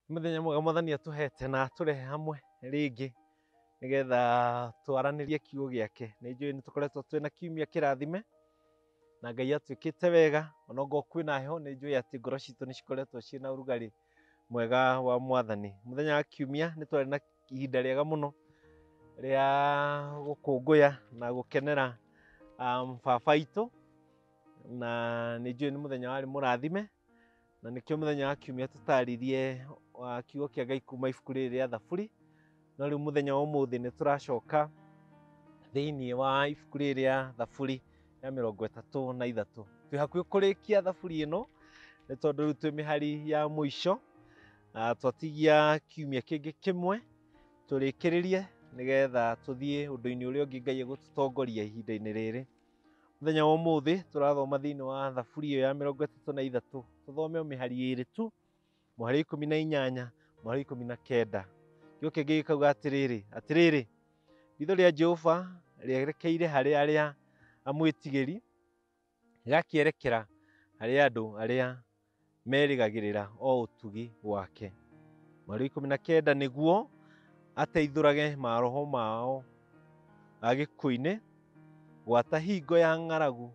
Nĩ mũthenya mwega mwathani atũhete na atũrehe hamwe rĩngĩ nĩgetha twaranĩrie kiugo gĩake. Nĩ njũĩ nĩ tũkoretwo twĩna kiumia kĩrathime na Ngai atwĩkĩte wega ona ngorwo kwĩna heho nĩ njũĩ atĩ ngoro citũ nĩ cikoretwo ciĩ na ũrugarĩ mwega wa mwathani. Mũthenya wa kiumia nĩ twarĩ na ihinda rĩega mũno rĩa gũkũngũya na gũkenera um, baba itũ na nĩ njũĩ nĩ mũthenya warĩ mũrathime na nĩkĩo mũthenya wa kiumia tũtaaririe wa kiugo kĩa ngai kuma ibuku rĩrĩ rĩa thaburi no rĩu mũthenya wa ũmũthĩ nĩ tũracoka thĩinĩ wa ibuku rĩrĩ rĩa thaburi ya mĩrongo ĩtatũ na ithatũ twĩ hakuhĩ kũrĩkia thaburi ĩno nĩ tondũ rĩu twĩ mĩhari ya mũico na twatigia kiumia kĩngĩ kĩmwe tũrĩkĩrĩrie nĩgetha tũthiĩ ũndũ-inĩ ũrĩa ũngĩ ngai egũtũtongoria ihinda-inĩ rĩrĩ Mũthenya wa ũmũthĩ tũrathoma thĩinĩ wa thaburi ĩyo ya mĩrongo ĩtatũ na ithatũ tũthome o mĩhari ĩrĩ tu mũhari ikũmi na inyanya mũhari ikũmi na kenda kĩo kĩngĩ gĩkauga atĩrĩrĩ atĩrĩrĩ ritho rĩa Jehova rĩerekeire harĩ arĩa amwĩtigĩri gakĩerekera harĩ andũ arĩa merĩgagĩrĩra o ũtugi wake. Mweri ikũmi na kenda nĩguo ateithũrage maroho mao agĩkũinĩ gwata hingo ya ng'aragu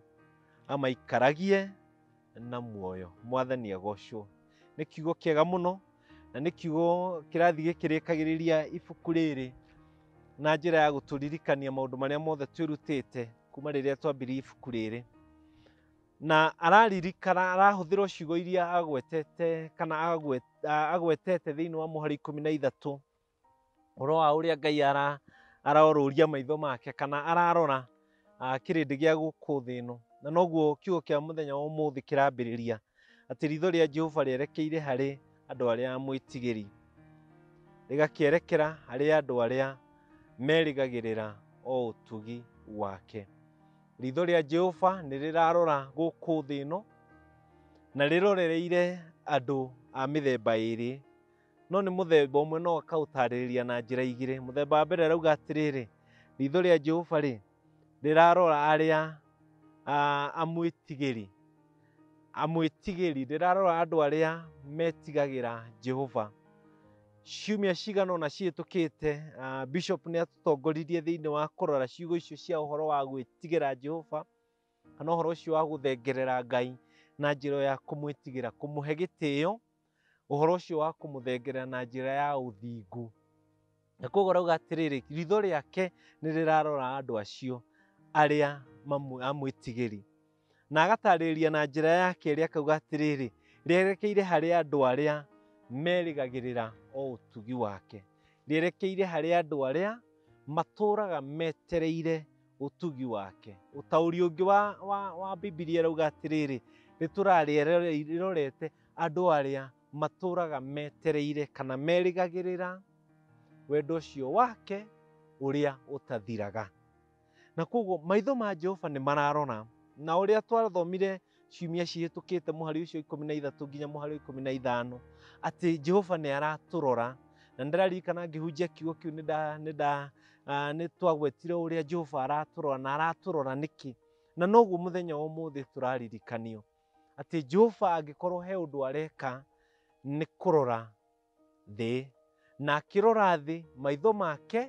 amaikaragie na muoyo mwathani agocwo nĩ kiugo kĩega mũno na nĩ kiugo kĩrathi gĩkĩrĩkagĩrĩria ibuku rĩrĩ na njĩra ya gũtũririkania maũndũ marĩa mothe twĩrutĩte kuma rĩrĩa twambirie ibuku rĩrĩ na araririkana arahũthĩra ciugo iria agwetete kana agwet- a- agwetete thĩinĩ wa mũhari ikũmi na ithatũ ũhoro wa ũrĩa ngai ara arorũria maitho make kana ararora ah, kĩrĩndĩ gĩa gũkũ thĩ ĩno na noguo kiugo kĩa mũthenya wa ũmũthĩ kĩrambĩrĩria atĩ ritho rĩa jehova rĩerekeire harĩ andũ arĩa mwĩtigĩri rĩgakĩerekera harĩ andũ arĩa merĩgagĩrĩra o ũtugi wake Ritho rĩa Jehova nĩ rĩrarora gũkũ thĩ ĩno na rĩrorereire andũ a mĩthemba ĩrĩ, no nĩ mũthemba ũmwe no akaũtarĩrĩria na njĩra igĩrĩ. Mũthemba wa mbere arauga atĩrĩrĩ, ritho rĩa Jehova rĩ rĩrarora arĩa amwĩtigĩri. amwĩtigĩri rĩrarora andũ arĩa metigagĩra Jehova. Ciumia cigana ũna cihĩtũkĩte, ah, Bishop nĩ atũtongoririe thĩinĩ wa kũrora ciugo icio cia ũhoro wa gwĩtigĩra Jehova kana ũhoro ũcio wa gũthengerera Ngai na njĩra ya kũmwĩtigĩra, kũmũhe gĩtĩo ũhoro ũcio wa kũmũthengerera na njĩra ya ũthingu na koguo arauga atĩrĩrĩ ritho rĩake nĩ rĩrarora andũ acio arĩa mamwĩ- amwĩtigĩri na agatarĩria na njĩra yake ĩrĩa akauga atĩrĩrĩ rĩerekeire harĩ andũ arĩa merĩgagĩrĩra o ũtugi wake rĩerekeire harĩ andũ arĩa matũũraga metereire ũtugi wake ũtaũri ũngĩ wa, wa, wa bibilia rauga atĩrĩrĩ rĩtũrarĩerorete Andũ arĩa matũũraga metereire kana merĩgagĩrĩra wendo ũcio wake ũrĩa ũtathiraga. Na kwoguo maitho ma Jehova nĩ mararora, na ũrĩa twathomire ciumia cihĩtũkĩte mũhari ũcio ikũmi na ithatũ nginya mũhari ikũmi na ithano atĩ Jehova nĩ aratũrora na nĩ ndĩraririkana ngĩhunjia kiugo kĩu nĩ nda- nĩ nda- ah, nĩ twagwetire ũrĩa Jehova aratũrora na aratũrora nĩkĩ na noguo mũthenya wa ũmũthĩ tũraririkanio atĩ Jehova angĩkorwo he ũndũ areka nĩ kũrora thĩ, na akĩrora thĩ maitho make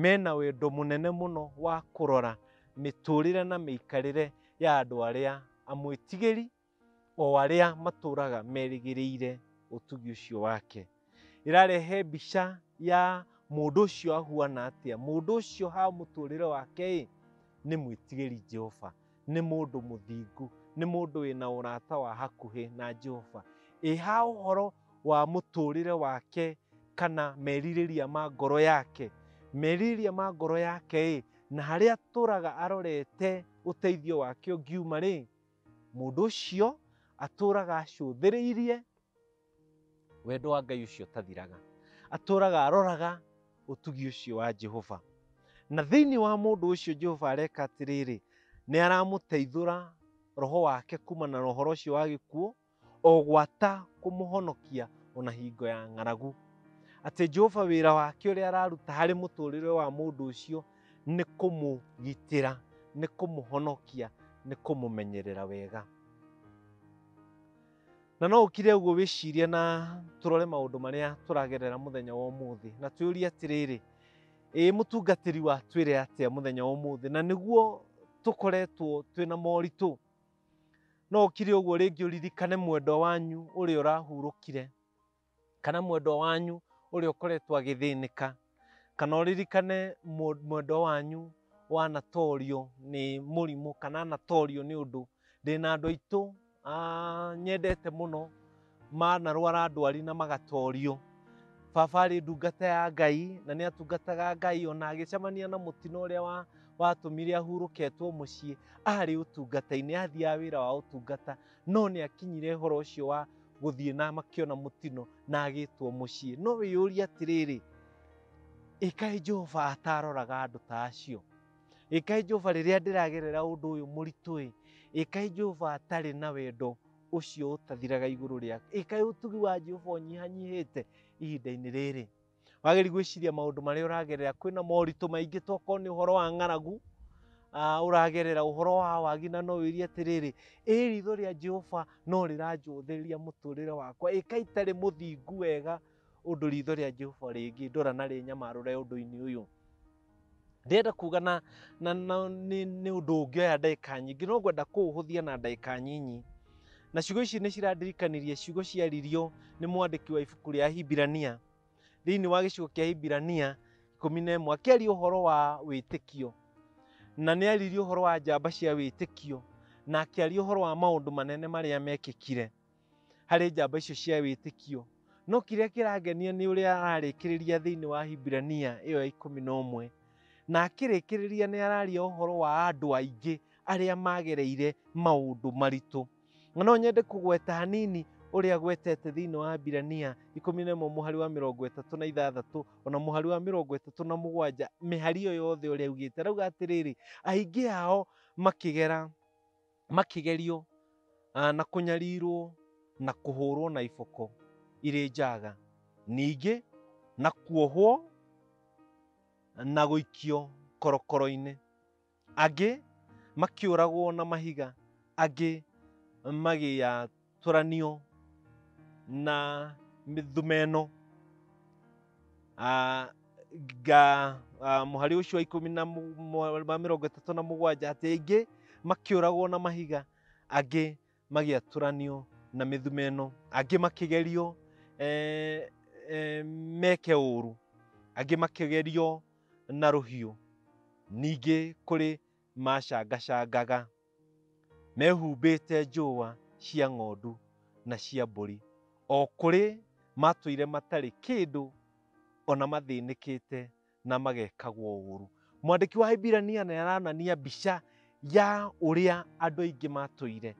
mena wendo mũnene mũno wa kũrora mĩtũrĩre na mĩikarĩre ya andũ arĩa amwĩtigĩri, o arĩa matũraga merĩgĩrĩire ũtugi ũcio wake. ĩrarehe mbica ya mũndũ ũcio ahuana atĩa mũndũ ũcio ha mũtũrĩre wake ĩ nĩ mwĩtigĩri jehova nĩ mũndũ mũthingu nĩ mũndũ wĩna ũrata wa hakuhĩ na jehova ĩ ha ũhoro wa mũtũrĩre wake kana merirĩria ma ngoro yake merirĩria ma ngoro yake ĩ na harĩa atũraga arorete ũteithio wake ũngiuma rĩ mũndũ ũcio atũraga acũthĩrĩirie Wendo wa Ngai ũcio ũtathiraga. Atũũraga aroraga ũtugi ũcio wa Jehova. Na thĩinĩ wa mũndũ ũcio Jehova areka atĩrĩrĩ, nĩ aramũteithũra roho wake kuma na ũhoro ũcio wa gĩkuũ, o gwata kũmũhonokia ona hingo ya ng'aragu. Atĩ Jehova wĩra wake ũrĩa araruta harĩ mũtũrĩre wa mũndũ ũcio nĩ kũmũgitĩra, nĩ kũmũhonokia, nĩ kũmũmenyerera wega. Na no ũkire ũguo wĩcirie na tũrore maũndũ marĩa tũragerera mũthenya wa ũmũthĩ na twĩũrie atĩrĩrĩ, ĩĩ mũtungatĩri wa twĩre atĩa mũthenya wa ũmũthĩ na nĩguo tũkoretwo twĩna moritũ. No ũkire ũguo rĩngĩ ũririkane mwendwa wanyu ũrĩa ũrahurũkire. kana mwendwa wanyu ũrĩa ũkoretwo agĩthĩnĩka, kana ũririkane mũ- mwendwa wanyu wanatorio nĩ mũrimũ kana anatorio nĩ ũndũ. Ndĩ na andũ aitũ ah, nyendete mũno manarwara ndwari na magatorio. Baba arĩ ndungata ya Ngai na nĩ atungataga Ngai ona agĩcemania na mũtino ũrĩa wa watũmire ahurũketwo mũciĩ arĩ ũtungata-inĩ, athiaga wĩra wa ũtungata. no nĩ akinyire ũhoro ũcio wa gũthiĩ na makĩona mũtino na agĩtwo mũciĩ no wĩyũria atĩrĩrĩ ĩkaĩ jehova ataroraga andũ ta acio ĩkaĩ jehova rĩrĩa ndĩragerera ũndũ ũyũ mũritũ-ĩ ĩkaĩ jehova atarĩ na wendo ũcio ũtathiraga igũrũ rĩakwa ĩkaĩ ũtugi wa jehova ũnyihanyihĩte ihinda-inĩ rĩrĩ wagĩrĩru gwĩciria maũndũ marĩa ũragerera kwĩna moritũ maingĩ tokorwo nĩ ũhoro wa ng'aragu ah, ũragerera ũhoro wa wagi na no wĩrie atĩrĩrĩ ĩ ritho rĩa jehova no rĩranjũthĩria mũtũrĩre wakwa ĩka itarĩ mũthingu wega ũndũ ritho rĩa jehova rĩngĩndora na rĩnyamarũre ũndũ-inĩ ũyũ ndĩrenda kuga na, na, na nĩ, nĩ ũndũ ũngĩoya ndagĩka nyingĩ no ngwenda kũũhũthia na ndagĩka nyinyi na ciugo ici nĩ cirandirikanirie ciugo ciaririo nĩ mwandĩki wa ibuku rĩa hibirania thĩinĩ wa gĩcigo kĩa hibirania ikũmi na ĩmwe akĩaria ũhoro wa wĩtĩkio na nĩ aririe ũhoro wa njamba cia wĩtĩkio na akĩaria ũhoro wa maũndũ manene marĩa mekĩkire harĩ njamba icio cia wĩtĩkio. No kĩrĩa kĩrangenia nĩ ũrĩa ararĩkĩrĩria thĩinĩ wa Hibirania ĩyo ya ikũmi na ũmwe. Na akĩrĩkĩrĩria nĩ araria ũhoro wa andũ aingĩ arĩa magereire maũndũ maritũ. Na no nyende kũgweta hanini ũrĩa agwetete thĩinĩ wa Hibirania ikũmi na ĩmwe mũhari wa mĩrongo ĩtatũ na ithathatũ ona mũhari wa mĩrongo ĩtatũ na mũgwanja mĩhari ĩyo yothe ũrĩa augĩte arauga atĩrĩrĩ aingĩ ao makĩgera makĩgerio ah, na kũnyarirwo na kũhũrwo na iboko irĩ njaga ningĩ na kuohwo na gũikio korokoro-inĩ angĩ makĩũragwo na mahiga angĩ magĩya tũranio na mĩthumeno Ah, nga ah, mũhari ũcio wa ikũmi na mũ- mũ- wa mĩrongo ĩtatũ na mũgwanja atĩ aingĩ makĩũragwo na mahiga angĩ magĩatũranio na mĩthumeno angĩ makĩgerio eh, eh, meke ũũru angĩ makĩgerio na rũhiũ ningĩ kũrĩ macangacangaga mehumbĩte njũa cia ng'ondu na cia mbũri, o kũrĩ matũire matarĩ kĩndũ ona mathĩnĩkĩte na magekagwo ũũru. Mwandĩki wa Hibirania nĩ aranania mbica ya ũrĩa andũ aingĩ matũire,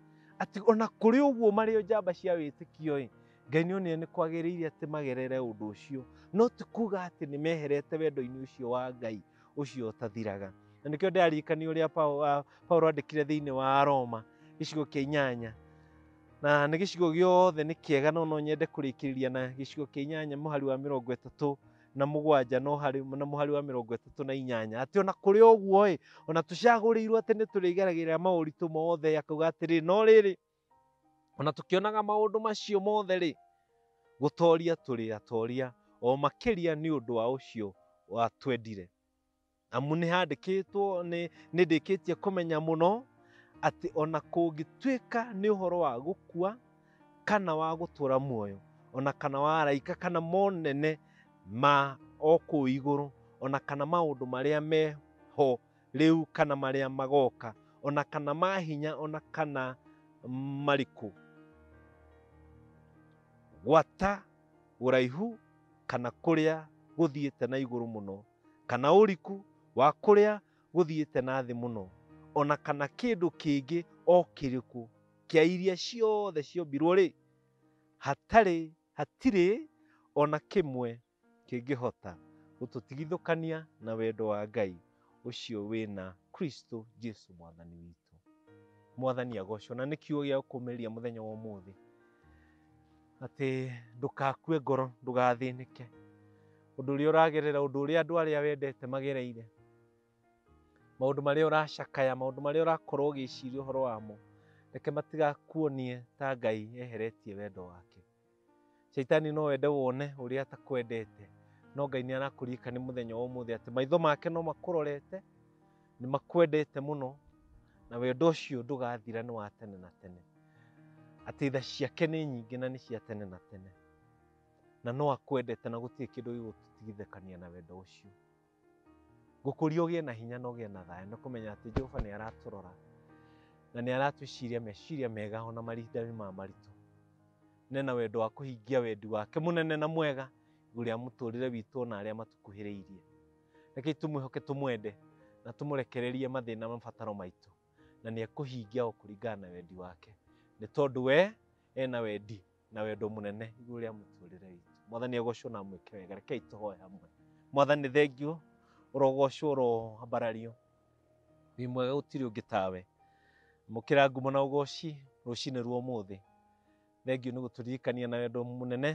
atĩ ona kũrĩ ũguo marĩ o njamba cia wĩtĩkio-ĩ, Ngai nĩ onire nĩ kwagĩrĩire atĩ magerere ũndũ ũcio, no ti kuga atĩ nĩ meherete wendo-inĩ ũcio wa Ngai, ũcio ũtathiraga na nĩkĩo ndĩraririkania ũrĩa Pau- ah, paulo andĩkire thĩinĩ wa roma gĩcigo kĩa inyanya na nĩ gĩcigo gĩothe nĩ kĩega no no nyende kũrĩkĩrĩria na gĩcigo kĩa inyanya mũhari wa mĩrongo ĩtatũ na mũgwanja no harĩ na mũhari wa mĩrongo ĩtatũ na inyanya atĩ ona kũrĩ ũguo ĩ ona tũcagũrĩirwo atĩ nĩ tũrĩgeragĩrĩra maũritũ mothe akauga atĩrĩ no rĩrĩ O na tũkĩonaga maũndũ macio mothe-rĩ, gũtoria tũrĩ atoria o makĩria nĩ ũndũ wa ũcio watwendire. Amu nĩhandĩkĩtwo, nĩ, nĩndĩkĩtie kũmenya mũno, atĩ o na kũngĩtuĩka nĩ ũhoro wa gũkua, kana wa gũtũra muoyo, o na kana wa araika, kana monene ma o kũu igũrũ, o na kana maũndũ marĩa me ho, rĩu kana marĩa magoka, o na kana ma hinya o na kana marikũ. Gwata ũraihu kana kũrĩa gũthiĩte na igũrũ mũno, kana ũriku wa kũrĩa gũthiĩte na thĩ mũno, o na kana kĩndũ kĩngĩ o kĩrĩkũ kĩa iria ciothe ciombirwo-rĩ, hatarĩ, hatirĩ o na kĩmwe kĩngĩhota gũtũtigithũkania na wendo wa Ngai ũcio wĩna Kristo Jesu mwathani witũ. Mwathani agocwo, na nĩ kiugo gĩa kũmeria mũthenya wa ũmũthĩ atĩ ndũkakue ngoro, ndũgathĩnĩke ũndũ ũrĩa ũragerera, ũndũ ũrĩa andũ arĩa wendete magereire, maũndũ marĩa ũracakaya, maũndũ marĩa ũrakorwo ũgĩciria ũhoro wamo, reke matigakuonie ta Ngai eheretie wendo wake. Shaitani no wende wone ũrĩa atakwendete, no Ngai nĩ arakũririkana mũthenya wa ũmũthĩ atĩ maitho make no makũrorete, nĩ makwendete mũno, na wendo ũcio ndũgathira nĩ wa tene na tene. Atĩ tha ciake nĩ nyingĩ na nĩ cia tene na tene, na no akwendete na gũtirĩ kĩndũ gĩgũtũtigithũkania na wendo ũcio. Ngũkũria ũgĩe na hinya na ũgĩe na thayũ nĩ kũmenya atĩ Jehova nĩ aratũrora na nĩ aratwĩciria meciria mega ona mahinda-inĩ ma maritũ. Nĩ na wendo wa kũhingia wendi wake mũnene na mwega igũrũ rĩa mũtũrĩre witũ na arĩa matũkuhĩrĩirie. Rekei tũmwĩhoke tũmwende na tũmũrekererie mathĩna na mabataro maitũ na nĩ ekũhingia o kũringana na wendi wake nĩ tondũ we ena wendi. na wendo mũnene igũrũ rĩa mũtũrĩre witũ mwathani agocwo na mwĩke wega rekei tũhoe hamwe mwathani thengiũ ũrogocwo ũroambarario wĩ mwega gũtirĩ ũngĩ tawe mũkĩra ngumo na ũgoci rũcinĩ rwa ũmũthĩ thengiũ nĩ gũtũririkania na wendo mũnene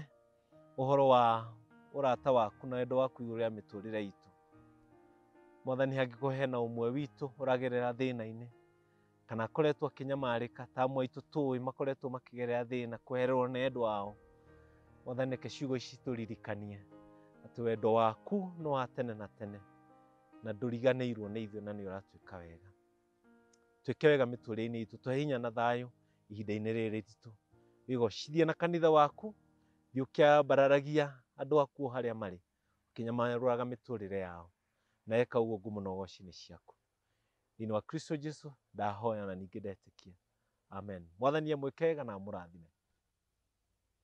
ũhoro wa ũrata waku na wendo waku igũrũ rĩa mĩtũrĩre itũ mwathani hangĩkorwo hena ũmwe witũ ũragerera thĩna-inĩ kana akoretwo akĩnyamarĩka ta amwe aitũ tũĩ makoretwo makĩgerera thĩna kwehererwo nĩ endwa ao mwathani reke ciugo ici tũririkanie atĩ wendo waku nĩ wa tene na tene na ndũriganĩirwo nĩ ithuĩ na nĩ ũratwĩka wega twĩke wega mĩtũrĩre-inĩ itũ tũhe hinya na thayũ ihinda-inĩ rĩrĩ ritũ wĩgocithie na kanitha waku thiĩ ũkĩambararagia andũ aku o harĩa marĩ ũkĩnyamarũraga mĩtũrĩre yao na eka ũguo ngumo na ũgoci-inĩ ciaku thĩinĩ wa kristo jesu ndahoya na ningĩ ndetĩkia amen mwathani amwĩkega na amũrathime